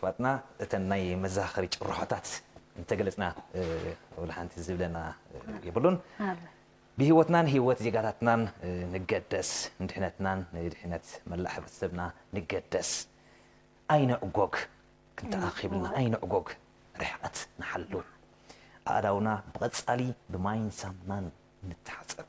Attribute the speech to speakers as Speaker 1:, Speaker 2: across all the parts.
Speaker 1: ፋጥና
Speaker 2: እተን ናይ መዘኻኸሪ ጭርሖታት እንተገለጽና ወላ ሓንቲ ዝብለና የብሉን። ብህይወትናን ህይወት ዜጋታትናን ንገደስ፣ ንድሕነትናን ንድሕነት መላእ ሕብረተሰብና ንገደስ፣ ኣይንዕጎግ፣ ክንተኣኺብልና ኣይንዕጎግ፣ ርሕቐት ንሓሉ፣ ኣእዳውና ብቐጻሊ ብማይን ሳሙናን ንተሓጸብ።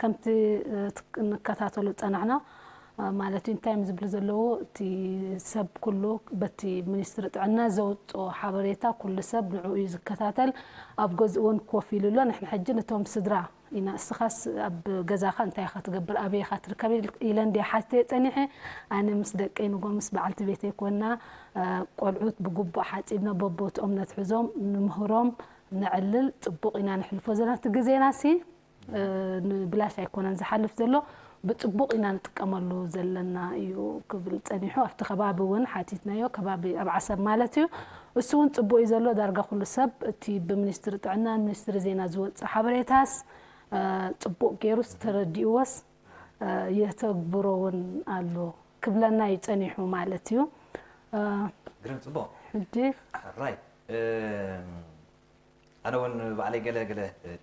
Speaker 1: ከምቲ ንከታተሎ ዝጸናሕና ማለት እዩ እንታይ እዮም ዝብሉ ዘለዉ እቲ ሰብ ኩሉ በቲ ሚኒስትሪ ጥዕና ዘውጽኦ ሓበሬታ ኩሉ ሰብ ንዕኡ እዩ ዝከታተል ኣብ ገዝኡ እውን ኮፍ ኢሉ ኣሎ ንሕና ሕጂ ነቶም ስድራ ኢና እስኻስ ኣብ ገዛኻ እንታይ ኢኻ ትገብር ኣበይ ኢኻ ትርከብ ኢለ እንድየ ሓትየ ጸኒሐ ኣነ ምስ ደቀይ ንጎ ምስ በዓልቲ ቤተይ ኮና ቆልዑት ብግቡእ ሓጺብና በቦትኦም ነትሕዞም ንምህሮም ነዕልል ጽቡቅ ኢና ነሕልፎ ዘለና እቲ ግዜና ሲ ንብላሽ ኣይኮነን ዝሓልፍ ዘሎ ብጽቡቅ ኢና ንጥቀመሉ ዘለና እዩ ክብል ጸኒሑ ኣብቲ ከባቢ ውን ሓቲትናዮ ከባቢ ኣብ ዓሰብ ማለት እዩ እሱ ውን ጽቡቅ እዩ ዘሎ ዳርጋ ኩሉ ሰብ እቲ ብምኒስትሪ ጥዕናን ምኒስትሪ ዜና ዝወጽእ ሓበሬታስ ጽቡቅ ጌሩስ ተረዲእዎስ የተግብሮ ውን ኣሎ ክብለና እዩ ጸኒሑ ማለት እዩ።
Speaker 2: ግርም ጽቡቕ
Speaker 1: ራይት
Speaker 2: ኣነ ውን ባዕለይ ገለ ገለ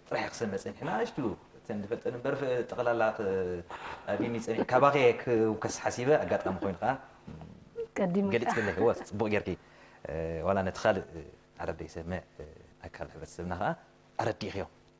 Speaker 2: ጥራሕ ክሰምዕ ጸኒሐ ናኣሽቱ እተን ዝፈልጠን እምበር ጠቕላላ ኣቢኒ ጸኒሐ ካባኸ ክውከስ ሓሲበ ኣጋጣሚ ኮይኑ ከዓ
Speaker 1: ገሊፅክለይ ወ
Speaker 2: ፅቡቕ ጌርኪ ዋላ ነቲ ካልእ ዓረብ ዘይሰምዕ ኣካል ሕብረተሰብና ከዓ ኣረዲእኽዮ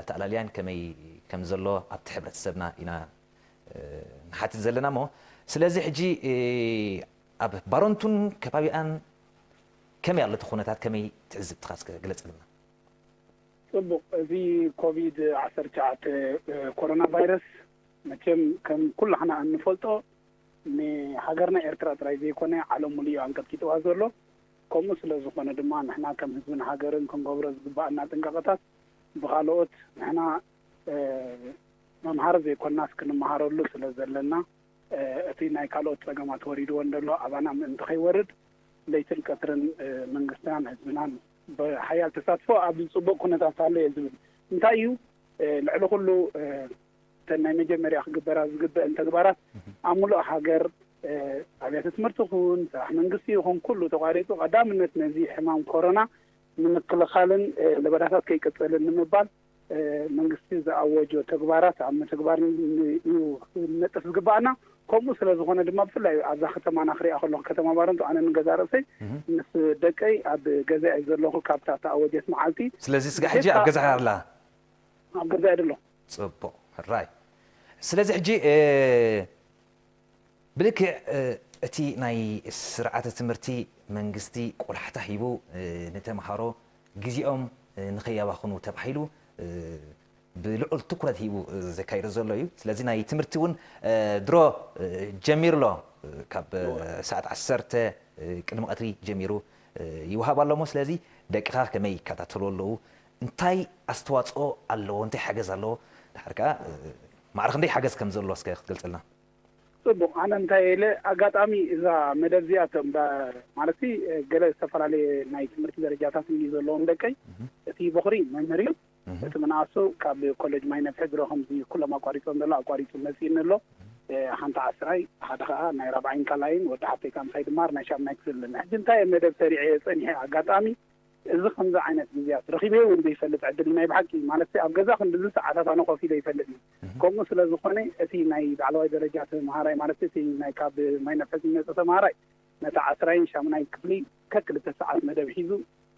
Speaker 2: ኣተኣላልያን ከመይ ከምዘሎ ኣብቲ ሕብረተሰብና ኢና ንሓትት ዘለና እሞ ስለዚ ሕጂ ኣብ ባረንቱን ከባቢኣን ከመይ ኣሎ እቲ ኩነታት ከመይ ትዕዝብትኻ እስከ ግለጸልና።
Speaker 3: ጽቡቅ እዚ ኮቪድ ዓሰርተ ትሽዓተ ኮሮና ቫይረስ መቸም ከም ኩላሕና እንፈልጦ ንሃገርና ኤርትራ ጥራይ ዘይኮነ ዓለም ሙሉእ እዩ ኣንቀጥቂጥዋ ዘሎ ከምኡ ስለ ዝኾነ ድማ ንሕና ከም ህዝብን ሃገርን ክንገብሮ ዝግበኣና ጥንቃቐታት ብኻልኦት ንሕና መምሃሪ ዘይኮናስ ክንመሃረሉ ስለ ዘለና እቲ ናይ ካልኦት ጸገማት ወሪድወን ዘሎ ኣባና ምእንቲ ከይወርድ ለይትን ቀትርን መንግስትናን ህዝብናን ብሓያል ተሳትፎ ኣብዚ ጽቡቕ ኩነታት ኣሎ እየ ዝብል። እንታይ እዩ ልዕሊ ኩሉ እተን ናይ መጀመርያ ክግበራ ዝግበእን ተግባራት ኣብ ምሉእ ሃገር ኣብያተ ትምህርቲ ይኹን ስራሕ መንግስቲ ይኹን ኩሉ ተቋሪፁ ቀዳምነት ነዚ ሕማም ኮሮና ንምክልኻልን ለበዳታት ከይቅፅልን ንምባል መንግስቲ ዝኣወጆ ተግባራት ኣብ ምትግባር እዩ ነጥፍ ዝግባኣና ከምኡ ስለ ዝኾነ ድማ ብፍላይ ኣብዛ ከተማና ክሪኣ ከለኹ ከተማ ባረንቱ ኣነ ንገዛ ርእሰይ ምስ ደቀይ ኣብ ገዛ እየ ዘለኹ ካብታ ተኣወጀት መዓልቲ ስለዚ ስጋ ሕጂ ኣብ ገዛ
Speaker 2: ኣላ ኣብ ገዛ
Speaker 3: እየ ደለኹ ጽቡቅ ሕራይ
Speaker 2: ስለዚ ሕጂ ብልክዕ እቲ ናይ ስርዓተ ትምህርቲ መንግስቲ ቆላሕታ ሂቡ ንተምሃሮ ግዜኦም ንከያባኽኑ ተባሂሉ ብልዑል ትኩረት ሂቡ ዘካይዶ ዘሎ እዩ ስለዚ ናይ ትምህርቲ እውን ድሮ ጀሚሩ ኣሎ ካብ ሰዓት ዓሰርተ ቅድሚ ቀትሪ ጀሚሩ ይውሃብ ኣሎ እሞ ስለዚ ደቅኻ ከመይ ይከታተሉ ኣለዉ እንታይ ኣስተዋጽኦ ኣለዎ እንታይ ሓገዝ ኣለዎ ድሓር ከኣ ማዕረ ክንደይ ሓገዝ ከም ዘሎ እስከ ክትገልጸልና። ጽቡቅ
Speaker 3: ኣነ እንታይ ኢለ ኣጋጣሚ እዛ መደብ እዚኣ እቶም ማለትሲ ገለ ዝተፈላለየ ናይ ትምህርቲ ደረጃታት እዩ ዘለዎም ደቀይ እቲ ቦኽሪ መምህር እዩ እቲ ምንኣሱ ካብ ኮለጅ ማይ ነፍሒ ድሮ ከምዚ ኩሎም ኣቋሪጾም ዘሎ ኣቋሪጹ መጺእኒ ኣሎ ሓንቲ ዓስራይ ሓደ ከኣ ናይ ራብዓይን ካልኣይን ወዲ ሓፍተይ ከኣ ምሳይ ድማር ናይ ሻምናይ ክፍሊ ኣለና ሕጂ እንታይ እየ መደብ ሰሪዐ እየ ጸኒሐ ኣጋጣሚ እዚ ከምዚ ዓይነት ግዝያት ረኺበዮ ውን ዘይፈልጥ ዕድል ናይ ብሓቂ ማለትሲ ኣብ ገዛ ክንድዚ ሰዓታት ኣነ ኮፍ ኢለ ኣይፈልጥን ከምኡ ስለ ዝኾነ እቲ ናይ ላዕለዋይ ደረጃ ተምሃራይ ማለትሲ እቲ ናይ ካብ ማይ ነፍሒ ዝመጸ ተምሃራይ ነቲ ዓስራይን ሻሙናይ ክፍሊ ከክልተ ሰዓት መደብ ሒዙ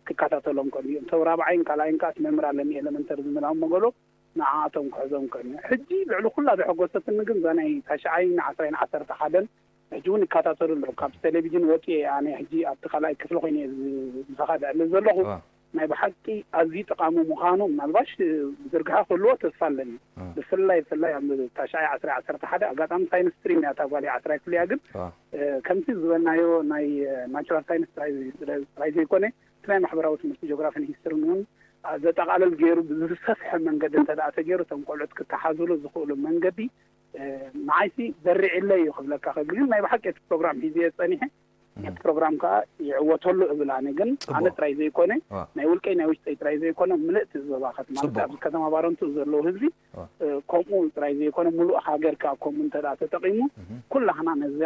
Speaker 3: ክካታተሎም ቀንዩ እንተው ራብዓይን ካልኣይን ከኣስ መምህር ኣለኒ ኤለመንተሪ ዝምላኦም መገሎ ንዓኣቶም ክሕዞም ቀንዩ ሕጂ ልዕሊ ኩላ ዘሐጎሰትኒ ግን እዛ ናይ ታሽዓይን ዓስራይን ዓሰርተ ሓደን ሕጂ ውን ይካታተሉ ኣለዉ ካብ ተለቪጅን ወጽየ እየ ኣነ ሕጂ ኣብቲ ካልኣይ ክፍሊ ኮይነ እየ ምሳካ ዝዕልል ዘለኩ ናይ ብሓቂ ኣዝዩ ጠቃሚ ምካኑ ምናልባሽ ዝርግሐ ክህልዎ ተስፋ ኣለኒ ብፍላይ ብፍላይ ኣብ ታሽዓይ ዓስራይ ዓሰርተ ሓደ ኣጋጣሚ ሳይንስ ስትሪም እያ እታ ጓለይ ዓስራይ ክፍሊ እያ ግን ከምቲ ዝበልናዮ ናይ ናቹራል ሳይንስ ጥራይ ዘይኮነ እቲ ናይ ማሕበራዊ ትምህርቲ ጂኦግራፍን ሂስትርን ውን ዘጠቃልል ገይሩ ብዝሰፍሐ መንገዲ እንተ ተገይሩ እቶም ቆልዑት ክተሓዝሉ ዝክእሉ መንገዲ ንዓይሲ ዘሪዒለይ እዩ ክብለካ ክእል ግን ናይ ብሓቂ እቲ ፕሮግራም ሒዘዮ ጸኒሐ ነቲ ፕሮግራም ከኣ ይዕወተሉ እብል ኣነ ግን ኣነ ጥራይ ዘይኮነ ናይ ውልቀይ ናይ ውሽጠይ ጥራይ ዘይኮነ ምልእቲ እዚ ዞባኸት ማለት ኣብዚ ከተማ ባረንቱ ዘለዉ ህዝቢ ከምኡ ጥራይ ዘይኮነ ምሉእ ሃገር ከኣ ከምኡ እንተ ተጠቒሙ ኩላህና ነዛ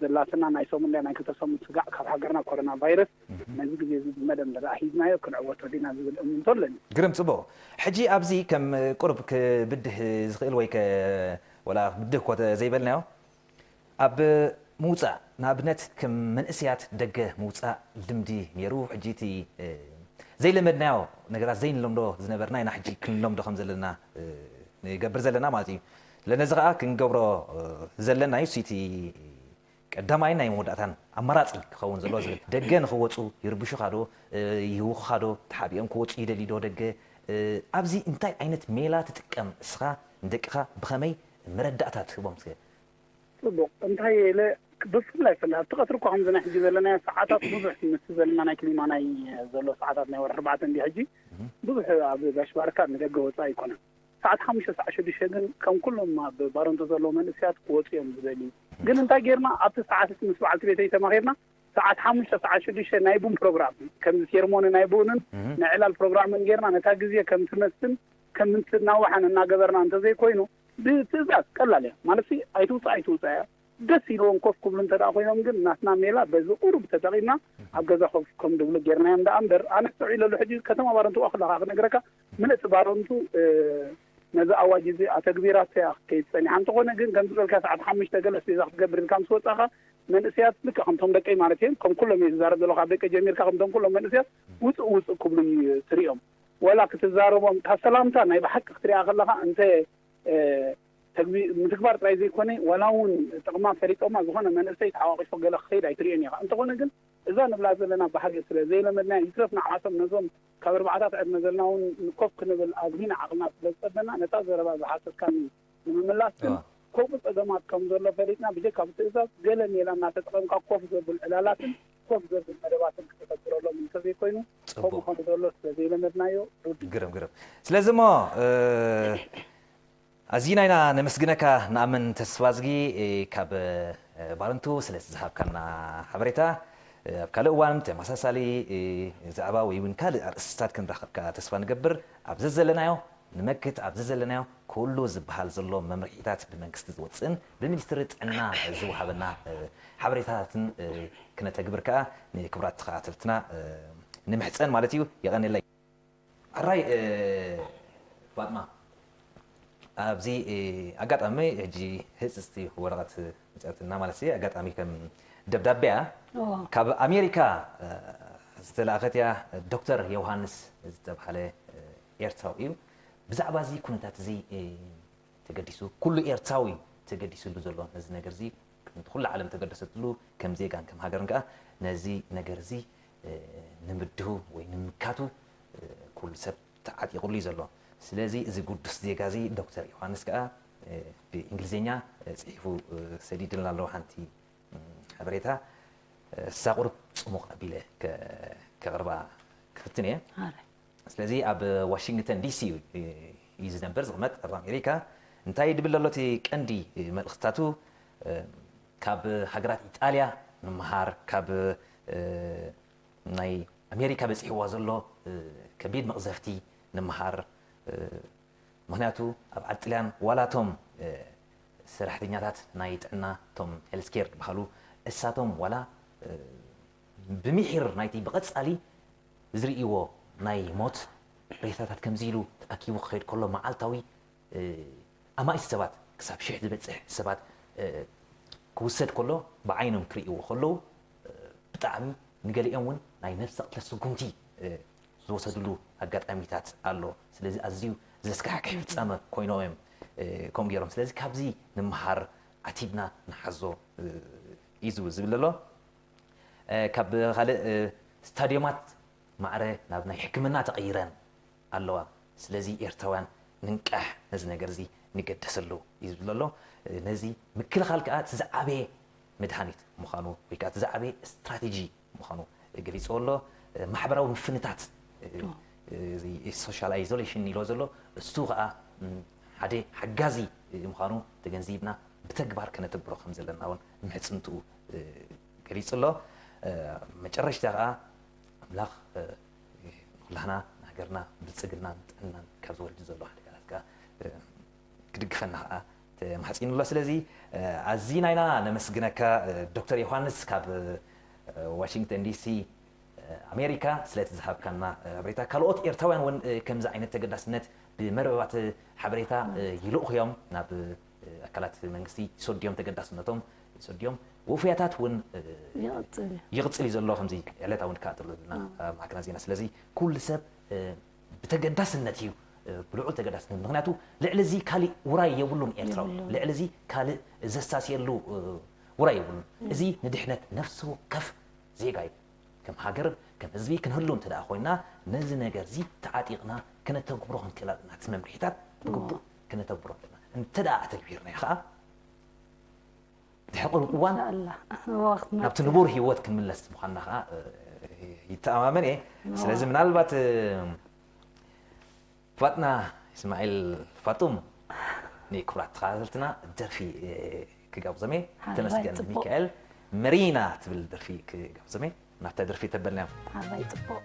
Speaker 3: ዘላትና ናይ ሰሙን ድያ ናይ ክልተ ሰሙን ስጋዕ
Speaker 2: ካብ ሃገርና ኮረና ቫይረስ ነዚ ግዜ እዚ ብመደብ እንተደኣ ሒዝናዮ ክንዕወቶ ዲና ዝብል እምንቶ ኣለኒ። ግርም ጽቡቕ ሕጂ ኣብዚ ከም ቁሩብ ክብድህ ዝኽእል ወይ ከ ወላ ክብድህ እኮ ዘይበልናዮ ኣብ ምውጻእ ንኣብነት ከም መንእሰያት ደገ ምውጻእ ልምዲ ኔሩ ሕጂ እቲ ዘይለመድናዮ ነገራት ዘይንለምዶ ዝነበርና ኢና ሕጂ ክንለምዶ ከም ዘለና ንገብር ዘለና ማለት እዩ ለነዚ ከኣ ክንገብሮ ዘለና እዩ እቲ ቀዳማይን ናይ መወዳእታን ኣማራጺ ክኸውን ዘለዎ ዝብል። ደገ ንኽወጹ ይርብሹኻ ዶ ይህውኹኻ ዶ ተሓቢኦም ክወጹ ይደልዩ ዶ ደገ ኣብዚ እንታይ ዓይነት ሜላ ትጥቀም እስኻ ንደቅኻ ብኸመይ መረዳእታ ትህቦም እስከ? ጽቡቕ
Speaker 3: እንታይ ኢለ ብፍላይ ፍላይ ኣብቲ ቀትሪ እኳ ከምዚ ናይ ሕጂ ዘለናዮ ሰዓታት ብዙሕ ምስቲ ዘለና ናይ ክሊማ ናይ ዘሎ ሰዓታት ናይ ወርሒ ኣርባዕተ እንድዩ ሕጂ ብዙሕ ኣብ ጋሽ ባርካ ንደገ ወጻኢ ኣይኮነን ሰዓት ሓሙሽተ ሳዕ ሽዱሽተ ግን ከም ኩሎም ኣብ ባረንቱ ዘለዉ መንእሰያት ክወጹ እዮም ዝደልዩ። ግን እንታይ ጌርና ኣብቲ ሰዓት እቲ ምስ በዓልቲ ቤተይ ተማኺርና ሰዓት ሓሙሽተ ሰዓት ሽዱሽተ ናይ ቡን ፕሮግራም ከምዚ ሴርሞኒ ናይ ቡንን ናይ ዕላል ፕሮግራምን ጌርና ነታ ግዜ ከም ትመስን ከም እንትናዋሕን እናገበርና እንተ ዘይኮይኑ ብትእዛዝ ቀላል እያ ማለትሲ ኣይትውጻእ ኣይትውጻእ እያ ደስ ኢልዎም ኮፍ ክብሉ እንተ ኮይኖም ግን ናትና ሜላ በዚ ቁሩብ ተጠቒምና ኣብ ገዛ ኮፍ ከም ድብሉ ጌርናዮም ደኣ እምበር ኣነ ኣስተውዒለሉ ሕጂ ከተማ ባረንቱ ዋላ ክነግረካ ምልእቲ ባረንቱ ነዚ ኣዋጅ እዚ ኣተግቢራትያ ክትከይድ ጸኒሓ። እንተኾነ ግን ከምዚ ዝበልካዮ ሰዓት ሓሙሽተ ገለ ኣስቤዛ ክትገብር ኢልካ ምስ ወጻኻ መንእሰያት ልክዕ ከምቶም ደቀይ ማለት እየ ከም ኩሎም እየ ዝዛረብ ዘለኹ ካብ ደቀይ ጀሚርካ ከምቶም ኩሎም መንእሰያት ውጽእ ውጽእ ክብሉ ትርእዮም ወላ ክትዛረቦም እታ ሰላምታ ናይ ብሓቂ ክትሪኣ ከለኻ እንተ ተግቢ ምትግባር ጥራይ ዘይኮነ ወላ እውን ጥቕማ ፈሊጦማ ዝኾነ መንእሰይ ተሓቋቂፎ ገለ ክኸይድ ኣይትርእዮን ኢኻ። እንተኾነ ግን እዛ ንብላ ዘለና ባህጊ ስለ ዘይለመድናያ ይትረፍ ንዓኣቶም ነዞም ካብ ኣርባዓታት ዕድመ ዘልና እውን ንኮፍ ክንብል ኣዚና ዓቕልና ስለ ዝጸበና፣ ነታ ዘረባ ዝሓተትካኒ ንምምላስ ግን፣ ከምኡ ጸገማት ከም ዘሎ ፈሊጥና፣ ብጀካ ብትእዛዝ፣ ገለ ሜላ እናተጠቐምካ ኮፍ ዘብል ዕላላትን ኮፍ ዘብል መደባትን ክተተግብረሎም እንተ ዘይኮይኑ፣ ከምኡ ከም ዘሎ ስለ ዘይለመድናዮ ርዱእ'ዩ። ግርም ግርም።
Speaker 2: ስለዚ እሞ ኣዚና ኢና ነመስግነካ ንኣምን ተስፋዝጊ ካብ ባረንቱ ስለቲ ዝሃብካና ሓበሬታ። ኣብ ካልእ እዋን ብተመሳሳሊ ዛዕባ ወይ እውን ካልእ ኣርእስቲታት ክንራኸብካ ተስፋ ንገብር። ኣብ ዘዘለናዮ ንመክት ኣብ ዘዘለናዮ ኩሉ ዝበሃል ዘሎ መምርሒታት ብመንግስቲ ዝወጽእን ብሚኒስትሪ ጥዕና ዝወሃበና ሓበሬታታትን ክነተግብር ከኣ ንክቡራት ተኸታተልትና ንምሕጸን ማለት እዩ። የቐኔለይ። ሕራይ ፋጥማ ኣብዚ ኣጋጣሚ ሕጂ ህጽጽቲ ወረቐት መጽኣትና ማለት እየ ኣጋጣሚ ከም ደብዳቤ እያ ካብ ኣሜሪካ ዝተላእኸት እያ ዶክተር ዮውሃንስ ዝተባህለ ኤርትራዊ እዩ ብዛዕባ እዚ ኩነታት እዚ ተገዲሱ ኩሉ ኤርትራዊ ተገዲስሉ ዘሎ ነዚ ነገር እዚ ከምቲ ኩሉ ዓለም ተገደሰትሉ ከም ዜጋን ከም ሃገርን ከዓ ነዚ ነገር እዚ ንምድሁ ወይ ንምምካቱ ኩሉ ሰብ ተዓጢቑሉ እዩ ዘሎ። ስለዚ እዚ ግዱስ ዜጋ እዚ ዶክተር ዮሃንስ ከኣ ብእንግሊዝኛ ጽሒፉ ሰዲድልና ኣሎ ሓንቲ ሓበሬታ እሳ ቁሩብ ጽሙቕ ኣቢለ ከቕርባ ክፍትን እየ። ስለዚ ኣብ ዋሽንግተን ዲሲ እዩ ዝነብር ዝቕመጥ ኣብ ኣሜሪካ እንታይ ድብል ኣሎ እቲ ቀንዲ መልእኽትታቱ ካብ ሃገራት ኢጣልያ ንምሃር ካብ ናይ ኣሜሪካ በጺሕዋ ዘሎ ከቢድ መቕዘፍቲ ንምሃር ምኽንያቱ ኣብ ዓድ ጥልያን ዋላ እቶም ሰራሕተኛታት ናይ ጥዕና እቶም ሄልዝ ኬር ድበሃሉ እሳቶም ዋላ ብሚሒር ናይቲ ብቐጻሊ ዝርእይዎ ናይ ሞት ሬሳታት ከምዚ ኢሉ ተኣኪቡ ክኸይድ ከሎ መዓልታዊ ኣማኢት ሰባት ክሳብ ሽሕ ዝበጽሕ ሰባት ክውሰድ ከሎ ብዓይኖም ክርእይዎ ከለዉ ብጣዕሚ ንገሊኦም ውን ናይ ነብሰ ቅትለት ስጉምቲ ዝወሰድሉ ኣጋጣሚታት ኣሎ ስለዚ ኣዝዩ ዘስካሕክሕ ፍጻመ ኮይኖም እዮም ከምኡ ገይሮም ስለዚ ካብዚ ንመሃር ዓቲብና ንሓዞ እዩ ዝብል ዝብል ዘሎ ካብ ካልእ ስታድዮማት ማዕረ ናብ ናይ ሕክምና ተቐይረን ኣለዋ ስለዚ ኤርትራውያን ንንቃሕ ነዚ ነገር እዚ ንገደሰሉ እዩ ዝብል ዘሎ ነዚ ምክልኻል ከኣ እቲ ዝዓበየ መድሃኒት ምዃኑ ወይ ከኣ እቲ ዝዓበየ ስትራቴጂ ምዃኑ ገሊጽዎ ኣሎ ማሕበራዊ ምፍንታት ሶሻል ኣይዞሌሽን ኢልዎ ዘሎ እሱ ከኣ ሓደ ሓጋዚ ምዃኑ ተገንዚብና ብተግባር ከነተግብሮ ከም ዘለና እውን ምሕጽንትኡ ገሊጹ ኣሎ መጨረሽታ ከኣ ኣምላኽ ኩላህና ንሃገርና ብልጽግናን ጥዕናን ካብ ዝወርድ ዘሎ ሓደጋታት ከኣ ክድግፈና ከኣ ተማሕጺኑ ኣሎ። ስለዚ ኣዚና ኢና ነመስግነካ ዶክተር ዮሃንስ ካብ ዋሺንግተን ዲሲ ኣሜሪካ ስለቲ ዝሃብካና ሓበሬታ። ካልኦት ኤርትራውያን እውን ከምዚ ዓይነት ተገዳስነት ብመርበባት ሓበሬታ ይልእኹ እዮም ናብ ኣካላት መንግስቲ ሶድዮም ተገዳስነቶም ሶድዮም ውፉያታት እውን ይቕፅል እዩ ዘሎ ከምዚ ዕለታ እውን ከዓ ትብለና ማዕከና ዜና ስለዚ ኩሉ ሰብ ብተገዳስነት እዩ ብልዑል ተገዳስነት ምክንያቱ ልዕሊ እዚ ካሊእ ውራይ የብሉን ኤርትራዊ ልዕሊ እዚ ካልእ ዘሳስየሉ ውራይ የብሉን እዚ ንድሕነት ነፍሲ ወከፍ ዜጋ እዩ ከም ሃገር ከም ህዝቢ ክንህሉ እንተ ኮይና ነዚ ነገር እዚ ተዓጢቕና ክነተግብሮ ክንክእል ኣለና እቲ መምርሒታት ብግቡእ ክነተግብሮ ኣለና። እንተ ኣተግቢርናዮ ከኣ ድሕሪ ቅሩብ እዋን
Speaker 1: ናብቲ ንቡር ህይወት ክንምለስ
Speaker 2: ምዃንና ከኣ ይተኣማመን እየ። ስለዚ ምናልባት ፋጥና እስማዒል ፋጡም ንክብራት ተኸታተልትና ደርፊ ክጋብዞም እየ ተመስገን ሚካኤል መሪና ትብል ደርፊ ክጋብዞም እየ ናብታ ደርፊ ተበልና እዮም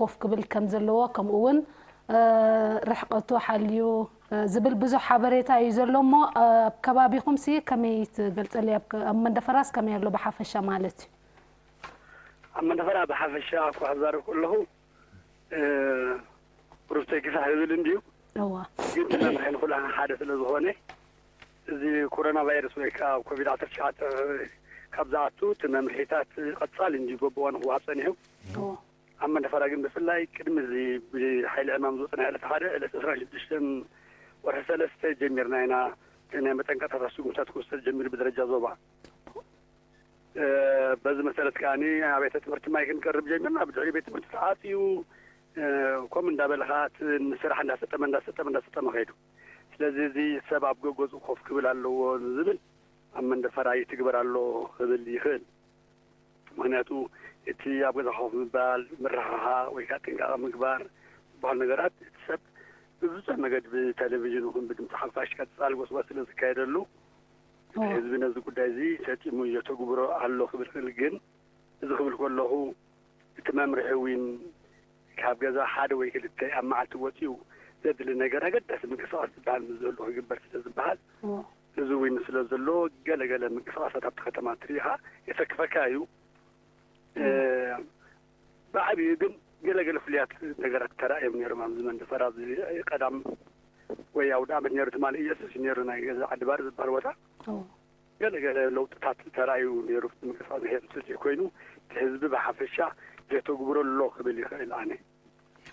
Speaker 1: ኮፍ ክብል ከም ዘለዎ ከምኡ እውን ርሕቐቱ ሓልዩ ዝብል ብዙሕ ሓበሬታ እዩ ዘሎ እሞ ኣብ ከባቢኹም ሲ ከመይ ትገልጸሊ ኣብ መንደፈራስ ከመይ ኣሎ ብሓፈሻ ማለት እዩ ኣብ
Speaker 4: መንደፈራ ብሓፈሻ እኳ ክዛረብ ከለኹ ሩፍተይ ግፋሕ ዝብል እንድዩ ግን መምርሒ ንኩላና ሓደ ስለ ዝኾነ እዚ ኮረና ቫይረስ ወይ ከኣ ኮቪድ ዓሰርተ ትሽዓተ ካብ ዝኣቱ እቲ መምርሒታት ቐጻሊ እንድዩ ጎቦ ንኽወሃብ ጸኒሑ። ኣብ መንደፈራ ግን ብፍላይ ቅድሚ እዚ ብሓይሊ ዕማም ዝወጸ ናይ ዕለተ ሓደ ዕለት ዕስራን ሽዱሽተን ወርሒ ሰለስተ ጀሚርና ኢና እቲ ናይ መጠንቀቕታታት ስጉምትታት ክውሰድ ጀሚሩ ብደረጃ ዞባ። በዚ መሰረት ከኣ ኣብያተ ትምህርቲ ማይ ክንቀርብ ጀሚርና ብድሕሪኡ ቤት ትምህርቲ ተዓጽዩ ከምኡ እንዳበለ ከኣ እቲ ንስራሕ እንዳሰጠመ እንዳሰጠመ እንዳሰጠመ ከይዱ። ስለዚ እዚ ሰብ ኣብ ገገዝኡ ኮፍ ክብል ኣለዎ ንዝብል ኣብ መንደፈራ ይትግበር ኣሎ ክብል ይኽእል። ምኽንያቱ እቲ ኣብ ገዛ ኮፍ ምባል፣ ምርሕሓቕ ወይ ከኣ ጥንቃቐ ምግባር ዝበሃሉ ነገራት እቲ ሰብ ብብዙሕ መገዲ ብተለቪዥን ይኹን ብድምጺ ሓፋሽ ቀጻሊ ጎስጓስ ስለ ዝካየደሉ እቲ ህዝቢ ነዚ ጉዳይ እዚ ሰጢሙ የተግብሮ ኣሎ ክብል ይኽእል። ግን እዚ ክብል ከለኹ እቲ መምርሒ ዊን ካብ ገዛ ሓደ ወይ ክልተ ኣብ መዓልቲ ወጺኡ ዘድሊ ነገር ኣገዳሲ ምንቅስቓስ ዝበሃል ምስ ዝህሉ ክግበር ስለ ዝበሃል እዚ ዊን ስለ ዘሎ ገለ ገለ ምንቅስቓሳት ኣብቲ ከተማ ትርኢኻ የሰክፈካ እዩ ብዓብዩ ግን ገለ ገለ ፍሉያት ነገራት ተራእዮም ነይሮም ኣብዚ መንደፈራ ኣብዚ ቀዳም ወይ ኣውደ ዓመት ነይሩ ትማሊ ኢየሱስ እዩ ነይሩ ናይ ገዛ ዓዲ ባር ዝበሃል ቦታ ገለ ገለ ለውጥታት ተራእዩ ነይሩ ምንቅስቃስ ብሄር እንተዘይኮይኑ እቲ ህዝቢ ብሓፈሻ ዜተግብሮ ኣሎ ክብል ይኽእል ኣነ።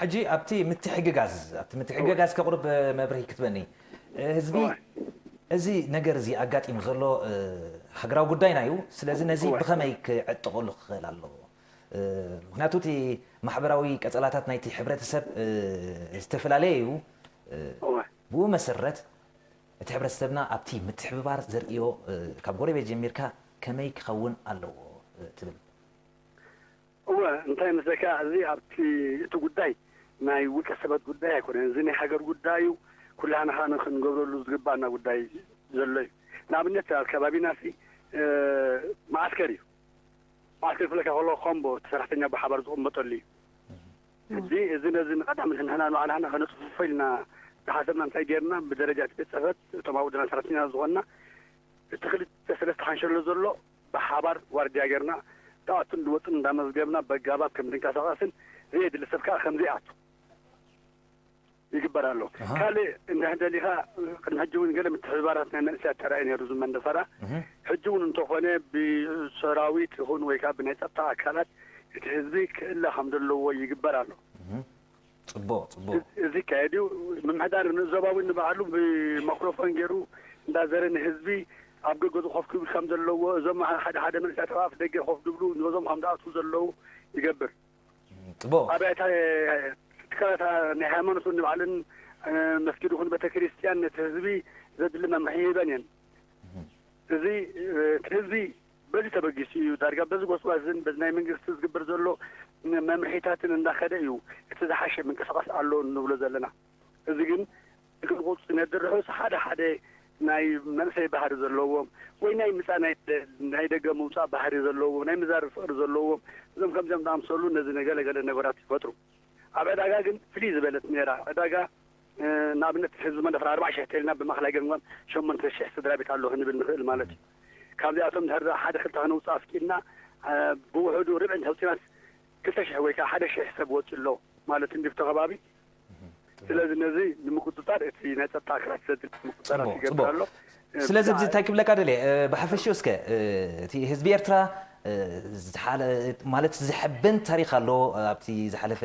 Speaker 4: ሕጂ ኣብቲ
Speaker 2: ምትሕግጋዝ ኣብቲ ምትሕግጋዝ ከቕርብ መብርሂ ክትበኒ ህዝቢ እዚ ነገር እዚ ኣጋጢሙ ዘሎ ሃገራዊ ጉዳይና እዩ ስለዚ ነዚ ብኸመይ ክዕጥቐሉ ክኽእል ኣለዎ ምክንያቱ እቲ ማሕበራዊ ቀጸላታት ናይቲ ሕብረተሰብ ዝተፈላለየ እዩ ብኡ መሰረት እቲ ሕብረተሰብና ኣብቲ ምትሕብባር ዘርእዮ ካብ ጎረቤት ጀሚርካ ከመይ ክኸውን ኣለዎ ትብል?
Speaker 4: እወ እንታይ መስለካ እዚ ኣብቲ እቲ ጉዳይ ናይ ውልቀ ሰበት ጉዳይ ኣይኮነን እዚ ናይ ሃገር ጉዳይ እዩ ኩላህና ከኣ ንክንገብረሉ ዝግባኣና ጉዳይ ዘሎ እዩ ንኣብነት ኣብ ከባቢናሲ መዓስከር እዩ መዓስከር ክብለካ ከለኩ ኮምቦ እቲ ሰራሕተኛ ብሓባር ዝቅመጠሉ እዩ ሕጂ እዚ ነዚ ንቀዳም ንሕና ንባዕላና ከነጽፍፎ ኢልና ዝሓሰብና እንታይ ጌርና ብደረጃ እቲ ቤት ጽሕፈት እቶም ኣብ ውድና ሰራሕተኛታት ዝኾንና እቲ ክልተ ሰለስተ ሓንሸሎ ዘሎ ብሓባር ዋርድያ ጌርና ዝኣቱን ዝወጽኡን እንዳመዝገብና በጋባብ ከምዝንቀሳቀስን ዘየድሊ ሰብ ከኣ ከምዘይኣቱ ይግበር ኣሎ። ካልእ እንድሕር ደሊኻ ቅድሚ ሕጂ እውን ገለ ምትሕብባራት ናይ መንእሰያት ተራእዩ ነይሩ እዚ መንደፈራ ሕጂ እውን እንተኾነ ብሰራዊት ይኹን ወይ ከኣ ብናይ ጸጥታ ኣካላት እቲ ህዝቢ ክእለ ከም ዘለዎ ይግበር ኣሎ። ጽቡቕ
Speaker 2: ጽቡቕ። እዚ
Speaker 4: ይካየድ እዩ። ምምሕዳር ዞባ እውን ንባዕሉ ብማክሮፎን ገይሩ እንዳዘረ ንህዝቢ ኣብ ደገ ኮፍ ክብል ከም ዘለዎ እዞም ሓደ ሓደ መንእሰያት ኣብ ኣፍ ደገ ኮፍ ዝብሉ ንዞም ከም ዝኣትዉ ዘለዉ ይገብር። ጥቡቕ።
Speaker 2: ኣብያተ
Speaker 4: ትካላት ናይ ሃይማኖት ነንባዕለን፣ መስጊድ ይኹን ቤተክርስትያን ነቲ ህዝቢ ዘድሊ መምርሒ ይህበን እየን። እዚ እቲ ህዝቢ በዚ ተበጊሱ እዩ ዳርጋ በዚ ጎስጓስን በዚ ናይ መንግስቲ ዝግበር ዘሎ መምርሒታትን እንዳኸደ እዩ እቲ ዝሓሸ ምንቅስቓስ ኣሎ ንብሎ ዘለና። እዚ ግን ክግልቡጥ ዝነድር ርሑስ ሓደ ሓደ ናይ መንእሰይ ባህሪ ዘለዎም ወይ ናይ ምጻ ናይ ናይ ደገ ምውጻእ ባህሪ ዘለዎም ናይ ምዛርብ ፍቕሪ ዘለዎም እዞም ከምዚኦም ዝኣምሰሉ ነዚ ነገለ ገለ ነገራት ይፈጥሩ ኣብ ዕዳጋ ግን ፍልይ ዝበለት ነይራ ዕዳጋ ንኣብነት ህዝቢ መንደፈራ ኣርባዕ ሽሕ ተልና ብማእኸላይ ገምጋም ሸሞንተ ሽሕ ስድራ ቤት ኣሎ ክንብል ንኽእል ማለት እዩ ካብዚኣቶም እንድሕር ሓደ ክልተ ከነውፅእ ኣፍቂድና ብውሕዱ ርብዒ እንተውፂናስ ክልተ ሽሕ ወይ ከዓ ሓደ ሽሕ ሰብ ወፂኡ ኣሎ ማለት እንዲብቶ ከባቢ ስለዚ ነዚ ንምቁፅፃር እቲ ናይ ፀጥታ ኣካላት ዘድሊ ምቁፅፃራት ይገብር ኣሎ
Speaker 2: ስለዚ እዚ እንታይ ክብለካ ደልየ ብሓፈሽኡ እስከ እቲ ህዝቢ ኤርትራ ማለት ዘሐብን ታሪክ ኣሎ ኣብቲ ዝሓለፈ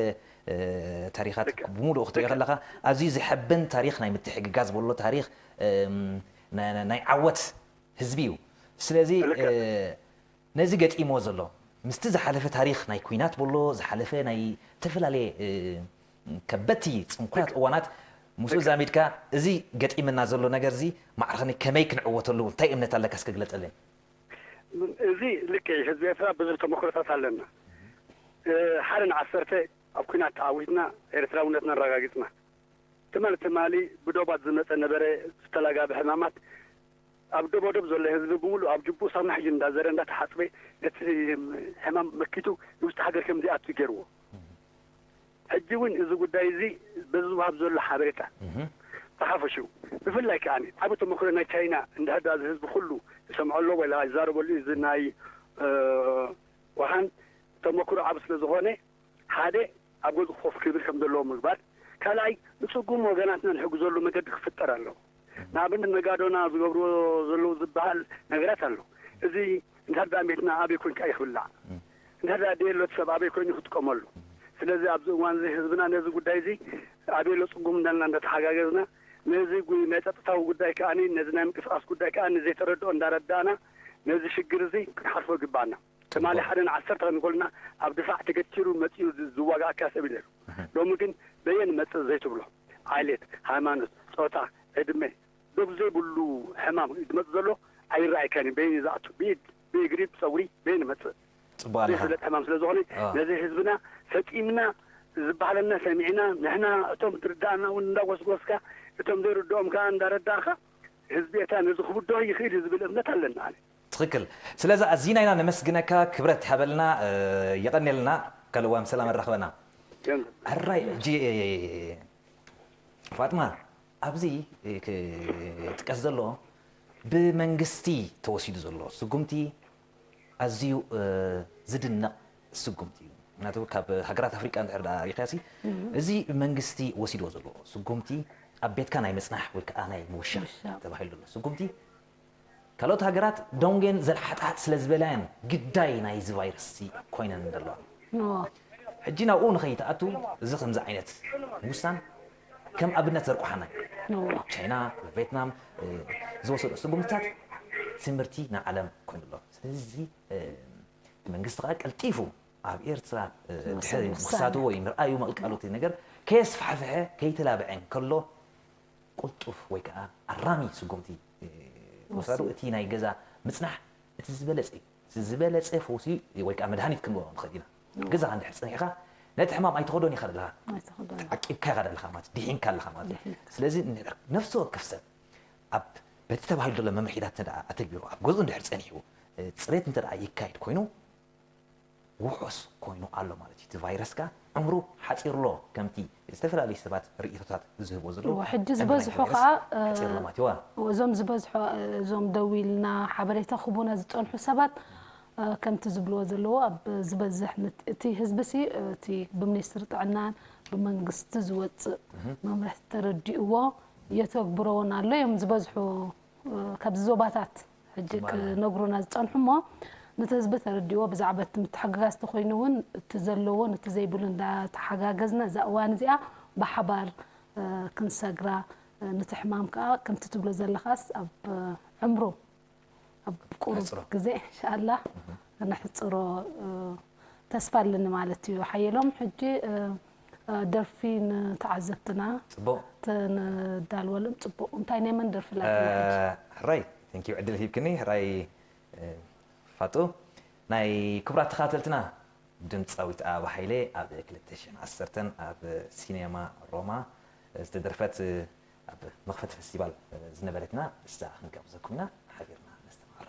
Speaker 2: ታሪካት ብሙሉእ ክትሪኦ ከለካ ኣዝዩ ዘሐብን ታሪክ ናይ ምትሕግጋዝ በሎ ታሪክ ናይ ዓወት ህዝቢ እዩ ስለዚ ነዚ ገጢምዎ ዘሎ ምስቲ ዝሓለፈ ታሪኽ ናይ ኩናት ቦሎ ዝሓለፈ ናይ እተፈላለየ ከበድቲ ጽንኩራት እዋናት ምስኡ ኣዛሚድካ እዚ ገጢመና ዘሎ ነገርዚ ማዕርኽኒ ከመይ ክንዕወተሉ እንታይ እምነት ኣለካ እስከ ግለጸለይ።
Speaker 4: እዚ ልክዕ እዩ ህዝቢ ኤርትራ ብዙሕ ተመክሮታት ኣለና ሓደ ን ዓሰርተ ኣብ ኩናት ተዓዊትና ኤርትራውነትና ኣራጋጊጽና ትማል ትማሊ ብዶባት ዝመጸ ነበረ ዝተላጋበ ሕማማት ኣብ ደቦ ዶብ ዘሎ ህዝቢ ብምሉኡ ኣብ ጅቡኡ ሳሙና ሒዙ እንዳዘረ እንዳተሓጽበ ነቲ ሕማም መኪቱ ንውሽጢ ሃገር ከምዘይኣቱ ጌርዎ። ሕጂ እውን እዚ ጉዳይ እዚ በዚ ዝውሃብ ዘሎ ሓበሬታ ብሓፈሽኡ ብፍላይ ከኣ ዓቢ ተመክሮ ናይ ቻይና እንድሕርድኣ እዚ ህዝቢ ኩሉ ይሰምዖ ኣሎ ወላ ይዛረበሉ እዩ እዚ ናይ ውሃን ተመክሮ ዓቢ ስለዝኾነ ሓደ ኣብ ገዝኡ ኮፍ ክብል ከም ዘለዎ ምግባር፣ ካልኣይ ንጽጉም ወገናትና ንሕግዘሉ መገዲ ክፍጠር ኣለዎ። ንኣብነት ነጋዶና ዝገብርዎ ዘለዉ ዝበሃል ነገራት ኣሎ። እዚ እንድሕር ደኣ ቤትና ኣበይ ኮንካ እዩ ክብላዕ? እንድሕር ደኣ ድየሎት ሰብ ኣበይ ኮይኑ እዩ ክጥቀመሉ? ስለዚ ኣብዚ እዋን እዚ ህዝብና ነዚ ጉዳይ እዚ ኣበየሎ ጽጉም እንዳልና እንዳተሓጋገዝና ነዚ ናይ ጸጥታዊ ጉዳይ ከኣ ነዚ ናይ ምንቅስቃስ ጉዳይ ከኣ ዘይተረድኦ እንዳረዳእና ነዚ ሽግር እዚ ክንሓልፎ ይግበኣና። ትማሊ ሓደ ንዓሰርተ ንጎልና ኣብ ድፋዕ ተገቲሩ መጺኡ ዝዋጋኣካ ሰብ እዩ ነይሩ ሎሚ ግን በየን መጽእ ዘይትብሎ ዓሌት ሃይማኖት ጾታ ዕድመ ዶብ ዘይብሉ ሕማም እዩ ዝመጽእ ዘሎ ኣይራኣየካን እዩ በየን እዩ ዝኣቱ ብኢድ ብእግሪ ብጸጉሪ በየን ይመጽእ ዘይፍለጥ ሕማም ስለ ዝኾነ ነዚ ህዝብና ፈጺምና ዝበሃለና ሰሚዕና ንሕና እቶም ዝርዳኣና እውን እንዳጎስጎስካ እቶም ዘይርድኦም ከኣ እንዳረዳእኻ ህዝቢ ኤርትራ ነዚ ክብድሆ ይኽእል እዩ ዝብል እምነት ኣለኒ ኣነ ትክክል
Speaker 2: ስለዛ ኣዚና ኢና ነመስግነካ ክብረት ሃበልና የቀኔልና ካልእዋን ብሰላም ኣራክበና ሕራይ ሕጂ ፋጥማ ኣብዚ ክጥቀስ ዘሎ ብመንግስቲ ተወሲዱ ዘሎ ስጉምቲ ኣዝዩ ዝድነቅ ስጉምቲ እዩ ምክንያቱ ካብ ሃገራት ኣፍሪቃ እንድሕር ደኣ ሪኢኻሲ እዚ መንግስቲ ወሲድዎ ዘሎ ስጉምቲ ኣብ ቤትካ ናይ ምጽናሕ ወይ ከዓ ናይ ምውሻብ ተባሂሉ ዘሎ ስጉምቲ ካልኦት ሃገራት ደንጉየን ዘልሓጥሓጥ ስለ ዝበላ'የን ግዳይ ናይ'ዚ ቫይረስ'ዚ ኮይነን ዘለዋ። ሕጂ ናብኡ ንኸይትኣቱ እዚ ከምዚ ዓይነት ምውሳን ከም ኣብነት ዘርቁሓና'ዩ። ቻይና፣ ቬትናም ዝወሰድኦ ስጉምትታት ትምህርቲ ንዓለም ኮይኑ ኣሎ። ስለዚ እዚ እቲ መንግስቲ ከኣ ቀልጢፉ ኣብ ኤርትራ ድሕሪ ምኽሳቱ ወይ ምርኣዩ ምቕልቃሉ'ቲ ነገር ከየስፋሕፍሐ ከይተላብዐ እንከሎ ቅልጡፍ ወይ ከኣ ኣራሚ ስጉምቲ ምውሳዱ እቲ ናይ ገዛ ምጽናሕ እቲ ዝበለጸ እዩ። እቲ ዝበለጸ ፈውሲ ወይ ከኣ መድሃኒት ክንብሎ ንኽእል ኢና። ኣብ ገዛኻ እንድሕር ጸኒሕካ ነቲ ሕማም ኣይትኸዶን ኢኻ ደለኻ። ዓቂብካዮ ኢኻ ደለኻ ማለት እዩ። ዲሒንካ ኣለኻ ማለት እዩ። ስለዚ ነፍሲ ወከፍ ሰብ ኣብ በቲ ተባሂሉ ዘሎ መምርሒታት እንተደኣ ኣተግቢሩ ኣብ ገዝኡ እንድሕር ጸኒሑ ጽሬት እንተደኣ ይካየድ ኮይኑ፣ ውሑስ ኮይኑ ኣሎ ማለት እዩ። እቲ ቫይረስ ከኣ ዕምሩ ሓጺሩ'ሎ ከምቲ ዝተፈላለዩ ሰባት ርእይቶታት ዝህብዎ ዘለዉ። እወ ሕጂ ዕምሪ ናይቲ ዝበዝሑ
Speaker 1: ቫይረስ ሓጺሩ'ሎ ከኣ ማለት እዩ። እወ። እወ እዞም ዝበዝሑ እዞም ደዊልና ሓበሬታ ክህቡና ዝጸንሑ ሰባት ከምቲ ዝብልዎ ዘለዉ ኣብ ዝበዝሕ ምት እቲ ህዝቢ'ሲ እቲ ብምኒስትሪ ጥዕናን ብመንግስቲ ዝወጽእ መምርሕቲ ተረዲእዎ የተግብሮ'ውን ኣሎ እዮም ዝበዝሑ ካብዚ ዞባታት። ሕጂ ክነግሩና ዝጸንሑ እሞ ነቲ ህዝቢ ተረዲእዎ ብዛዕባ እቲ ምትሕግጋዝ ተኾይኑ እውን እቲ ዘለዎን እቲ ዘይብሉን እንዳተሓጋገዝና እዛ እዋን እዚኣ ብሓባር ክንሰግራ ነቲ ሕማም ከኣ ከምቲ ትብሎ ዘለኻስ ኣብ ዕምሩ ኣብ ቁሩብ ግዜ ኢንሻኣላህ ክነሕጽሮ ተስፋ ኣለኒ ማለት እዩ ሓየሎም ሕጂ ደርፊ ንተዓዘብትና
Speaker 2: ተነዳልወልም
Speaker 1: ጽቡቅ እንታይ ናይ መን ደርፊ ላይክ ሕራይ
Speaker 2: thank you ዕድል ሂብክኒ ሕራይ ፋጡ ናይ ክቡራት ተኻተልትና ድምፃዊት ኣበባ ሃይለ ኣብ 2010 ኣብ ሲኔማ ሮማ ዝተደርፈት ኣብ መኽፈቲ ፈስቲቫል ዝነበረትና እሳ ክንጋብዘኩም ኢና ሓቢርና ነስተማቕራ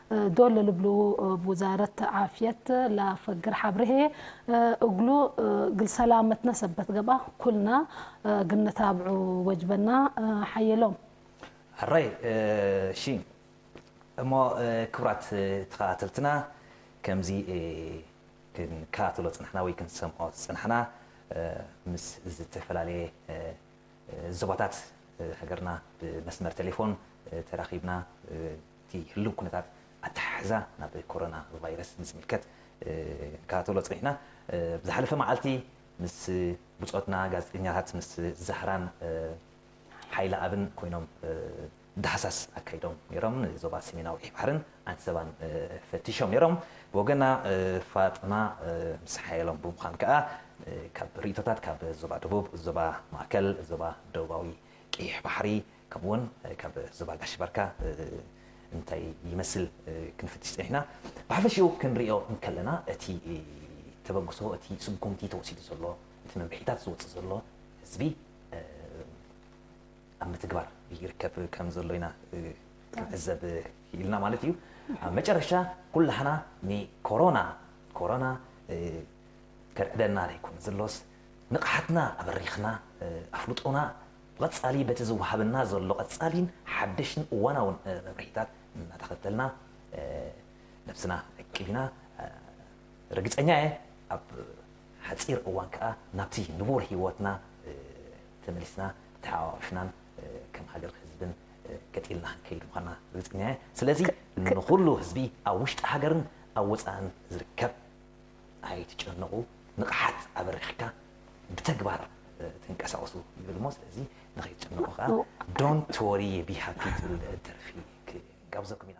Speaker 1: ዶል ልብሉ እብ ውዛረት ዓፍየት ለአፈግር ሐብር ህዬ፣ እግሉ እግል ሰላመትነ ሰበት ገብአ ኩልና ግንታብዑ ወጅበና ሐየሎም። ኣረይ
Speaker 2: እሺ እሞ ክብራት ተኸታተልትና ከምዚ ክንከታተሎ ዝጸናሕና ወይ ክንሰምዖ ዝጸናሕና ምስ ዝተፈላለየ ዞባታት ሃገርና ብመስመር ቴሌፎን ተራኺብና እቲ ህልው ኩነታት ኣተሓሕዛ ናብ ኮሮና ቫይረስ ንዝምልከት ክንከታተሎ ጸኒሕና። ኣብ ዝሓለፈ መዓልቲ ምስ ብጾትና ጋዜጠኛታት ምስ ዛህራን ሓይለኣብን ኮይኖም ዳህሳስ ኣካይዶም ነይሮም። ንዞባ ሰሜናዊ ቀይሕ ባሕርን ዓንሰባን ፈቲሾም ነይሮም። ብወገና ፋጥማ ምስ ሓየሎም ብምዃን ከኣ ካብ ርእይቶታት ካብ ዞባ ደቡብ፣ ዞባ ማእከል፣ ዞባ ደቡባዊ ቀይሕ ባሕሪ፣ ከምኡ ውን ካብ ዞባ ጋሽ ባርካ እንታይ ይመስል ክንፍትሽ ጸኒሕና። ብሓፈሽኡ ክንሪኦ እንከለና እቲ ተበግሶ እቲ ስጉምቲ ተወሲዱ ዘሎ እቲ መምርሒታት ዝወጽእ ዘሎ ህዝቢ ኣብ ምትግባር ይርከብ ከም ዘሎ ኢና ክንዕዘብ ክኢልና ማለት እዩ። ኣብ መጨረሻ ኩላህና ንኮሮና ኮሮና ከርዕደና ዘይኮነ ዘሎስ ንቕሓትና ኣበሪኽና ኣፍልጦና ብቐጻሊ በቲ ዝወሃበና ዘሎ ቀጻሊን ሓደሽን እዋናውን መብርሂታት እናተኸተልና ነብስና ንዕቅብ ኢና። ርግጸኛ እየ ኣብ ሓጺር እዋን ከኣ ናብቲ ንቡር ህይወትና ተመሊስና ተሓቛቊፍናን ከም ሃገር ህዝብን ገጥ ኢልና ክንከይድ ምዃንና ርግጸኛ እየ። ስለዚ ንኹሉ ህዝቢ ኣብ ውሽጢ ሃገርን ኣብ ወጻእን ዝርከብ፣ ኣይትጨነቑ ንቕሓት ኣበሪኽካ ብተግባር ተንቀሳቕሱ ይብል እሞ ስለዚ ንኸይትጭነቑ ከኣ ዶንት ወሪ ቢ ሃፒ ትብል ደርፊ ክንጋብዘኩም ኢና።